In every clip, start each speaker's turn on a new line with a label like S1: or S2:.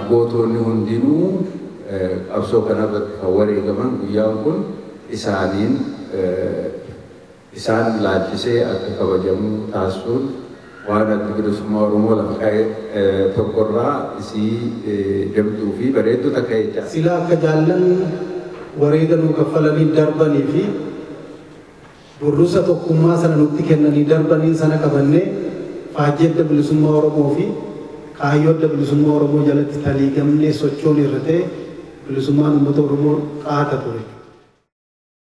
S1: Gootoonni hundinuu qabsoo kanarratti kan wareegaman guyyaan kun isaaniin. isaan laalchisee akka kabajamu taasisuun waan Addi Bilisummaa Oromoo lafa kaa'e tokko irraa isii jabduu fi bareedduu takka jecha. Silaa akka jaallan
S2: wareega nuu kaffalanii darbanii fi burrusa tokkummaa sana nutti kennanii darbaniin sana qabannee faajjii Adda Bilisummaa Oromoo fi kaayyoo Adda Bilisummaa Oromoo jalatti taliigamnee sochooneerra ta'e bilisummaan uummata Oromoo qaata ture.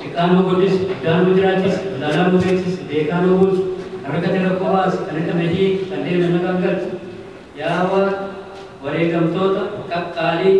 S3: Xiqqaa nuu guddisi, guddaa nuu jiraachisi, wallaalaa nuu beeksisi, beekaa nuu buusi, kan rakkate rakkoo baasi, kan hidhame hiiki, kan deeme nagaan galchi. Yaa Waaq, wareegamtoota qaqqaalii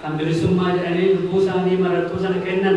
S3: kan bilisummaa jedhanii lubbuu isaanii marartuu sana kennan,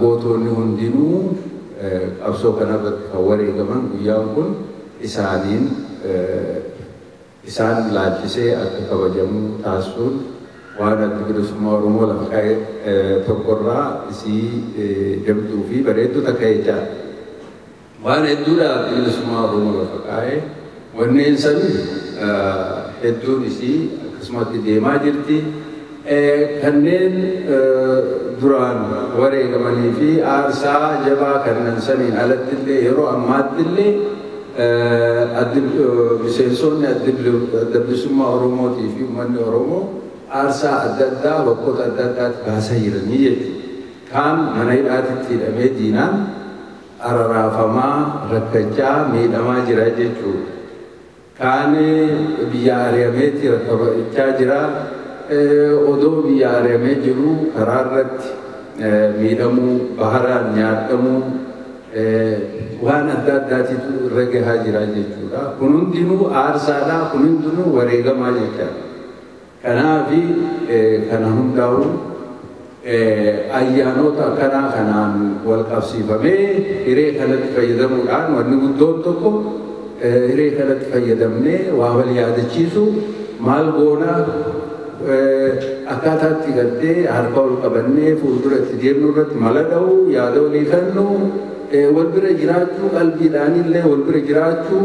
S1: Gootoonni hundinuu qabsoo kanarratti kan wareegaman guyyaan kun isaaniin isaan laalchisee akka kabajamu taasisuun waan Addi Bilisummaa Oromoo lafa kaa'e tokkorraa isii jabduu fi bareedduu takka jechaadha. Waan hedduudhaaf bilisummaa Oromoo lafa kaa'e. Wanneen san hedduun isii akkasumatti deemaa jirti. Kanneen duraan wareegamanii fi aarsaa jabaa kannan saniin alatti illee yeroo ammaatti illee miseensoonni Adda Bilisummaa Oromootii fi ummanni Oromoo aarsaa adda addaa bakkoota adda addaatti baasaa jiranii jechuudha. Kaan mana hidhaatitti hidhamee diinaan, araraafamaa, rakkachaa, miidhamaa jira jechuu dha. Kaan biyyaa ari'ameeti rakkachaa jira, odoo biyyaa ari'amee jiruu karaa irratti miidhamuu, baharaan nyaadhamuu, waan adda addaatitu irra gahaa jira jechuu dha. Kun hundinuu aarsaa dha, kun hundinuu wareegamaa jechaa dha. Kanaafi kana hundaa'u ayyaanoota akkanaa kanaan walqabsiifamee hiree kanatti fayyadamuudhaan wanni guddoon tokko hiree kanatti fayyadamnee waa wal yaadachiisuu maal goona akkaataa itti gartee harka wal qabannee fuuldura itti deemnu irratti mala dha'uu yaada walii kennuu wal bira jiraachuu qalbiidhaanillee wal bira jiraachuu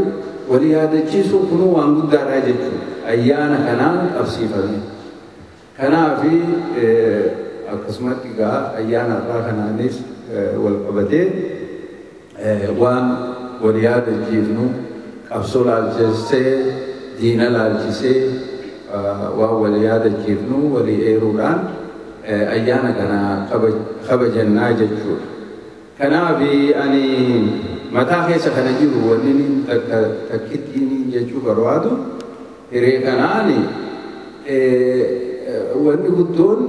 S1: Wal yaadachiisuun kunuu waan guddaadha jechuun ayyaana kanaan qabsiifame. Kanaaf akkasumatti egaa ayyaana har'aa kanaanis wal qabatee waan wal yaadachiifnu qabsoo laalchisee, diina laalchisee waan wal yaadachiifnu walii eeruudhaan ayyaana kana kabajannaa jechuudha. Kanaafi ani mataa keessa kana jiru wannini takka takkittiini jechuu barbaadu hiree kanaani wanni guddoon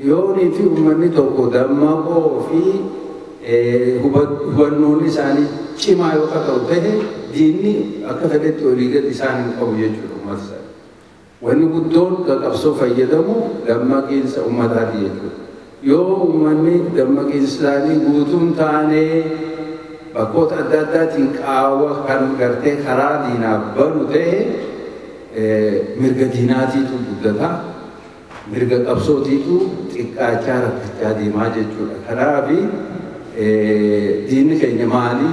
S1: yoonii fi ummanni tokko dammaqoo fi hubannoon isaanii cimaa yoo akka ta'u ta'e diinni akka fedhetti olii gad isaan hin qabu jechuudha ummata sana. Wanni guddoon ka qabsoo fayyadamu dammaqiinsa ummataati jechuudha. Yoo ummanni dammaqiinsisaanii guutuu hin taane bakkoota adda addaatiin qaawwa kan gartee karaa diinaaf banu ta'e mirga diinaatiitu guddata. Mirga qabsootiitu xiqqaachaa rakkachaa deemaa jechuudha. Kanaafi diinni keenya maali?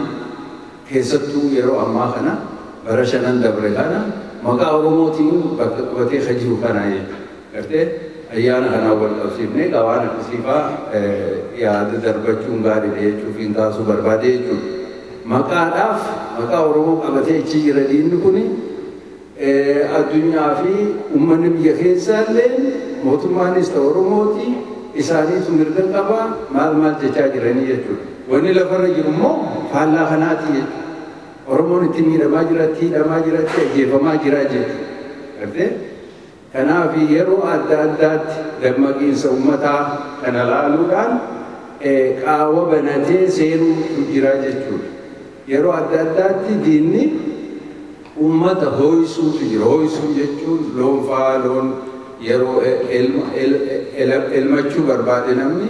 S1: Keessattuu yeroo ammaa kana bara shanan dabre kana maqaa Oromootiin bakka qabatee kan jiru kana gartee ayyaana kanaan wal qabsiifnee egaa waan akkasii fa'aa yaada darbachuun gaariidha jechuufiin kaasuu barbaade jechuudha. Maqaadhaaf maqaa Oromoo qabatee ichi jira diinni kuni Addunyaa fi ummanni biyya keessaa illeen mootummaanis ta'u Oromooti isaaniitu mirga qaba maal maal jechaa jiranii jechuudha. Wanni lafarra jiru immoo faallaa kanaati jechuudha. Oromoon itti miidhamaa jira, itti hidhamaa jira, itti ajjeefamaa jira jechuudha. Gartee? Kanaaf yeroo adda addaatti dammaqiinsa ummataa kana laaluudhaan qaawa banatee seenuutu jira jechuudha. Yeroo adda addaatti diinni ummata hoo'isuutu jira. Hoo'isuu jechuun loon fa'aa loon yeroo elmachuu barbaade namni,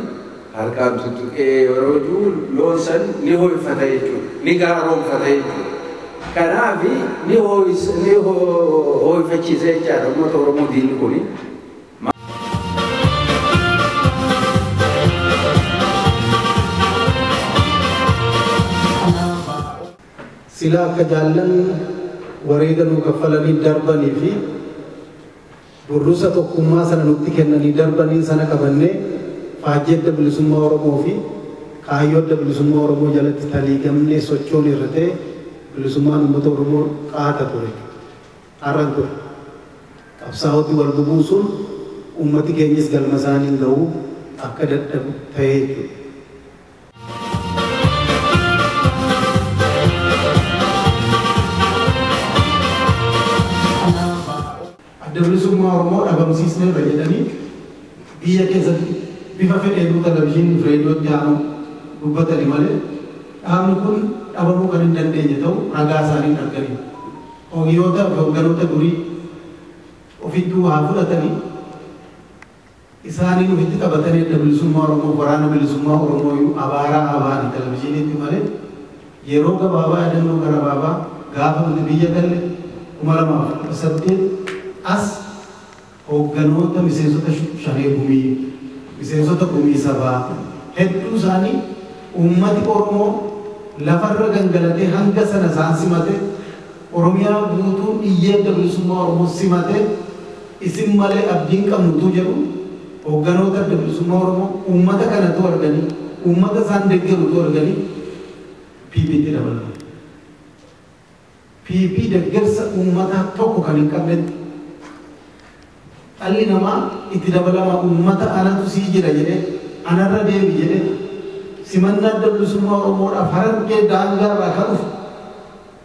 S1: Harkaan tuttuqee yeroo du'u loon san ni hooyfata jechuudha. Ni gaaroomfata jechuudha. Kanaaf ni hooyfachiisa jechaadha uummata Oromoo diinni kuni.
S2: Silaa akka jaallan wareega nuu kaffalanii darbanii fi. Burrusa tokkummaa sana nutti kennanii darbaniin sana qabannee faajjii Adda Bilisummaa Oromoo fi kaayyoo Adda Bilisummaa Oromoo jalatti taliigamnee sochoone irra ta'e bilisummaan uummata Oromoo qaata ture. Har'a hin ture. Qabsaa'oti wal bubuusuun uummati keenyis galma isaanii hin ga'u, akka dadhabu ta'ee jechuudha. Adda Bilisummaa Oromoo dhabamsiisneerra jedhanii biyya keessatti bifa fedheenuu televizyiinii fi reediyootti haa bahu dubbatani malee dhaabni kun dhabamuu kan hin dandeenye ta'u ragaa isaaniin arganiiru. Hoogiyootaa fi hoogganoota durii ofittuu haa fudhatanii. Isaanii ufitti taphatan Adda Bilisummaa Oromoof Waraana Bilisummaa Oromoo iyyuu abaaraa abaari Televizhiiniitti malee yeroo gabaabaa yaadannoo garabaabaa gaafa nuti biyya galle 2018 as hoogganoota miseensota Shanee Gumii, miseensota Gumii Sabaa hedduu isaanii uummati Oromoo lafarra gangalatee hanga sana isaan simatee, Oromiyaa guutuun iyyee Adda Bilisummaa Oromoo simatee isin malee abdii hin qabnu utuu jedhuu hoogganoota Adda Bilisummaa Oromoo uummata kana utuu arganii, uummata isaan deggeru utuu arganii PPtti dabalaman. PP deggersa uummataa tokko kan hin qabnetti dhalli namaa itti dabalama uummata anatu sii jira jedhee, anarra deebi jedhee simannaa Adda Bilisummaa Oromoodhaaf Harargee daangaarraa kan dhufu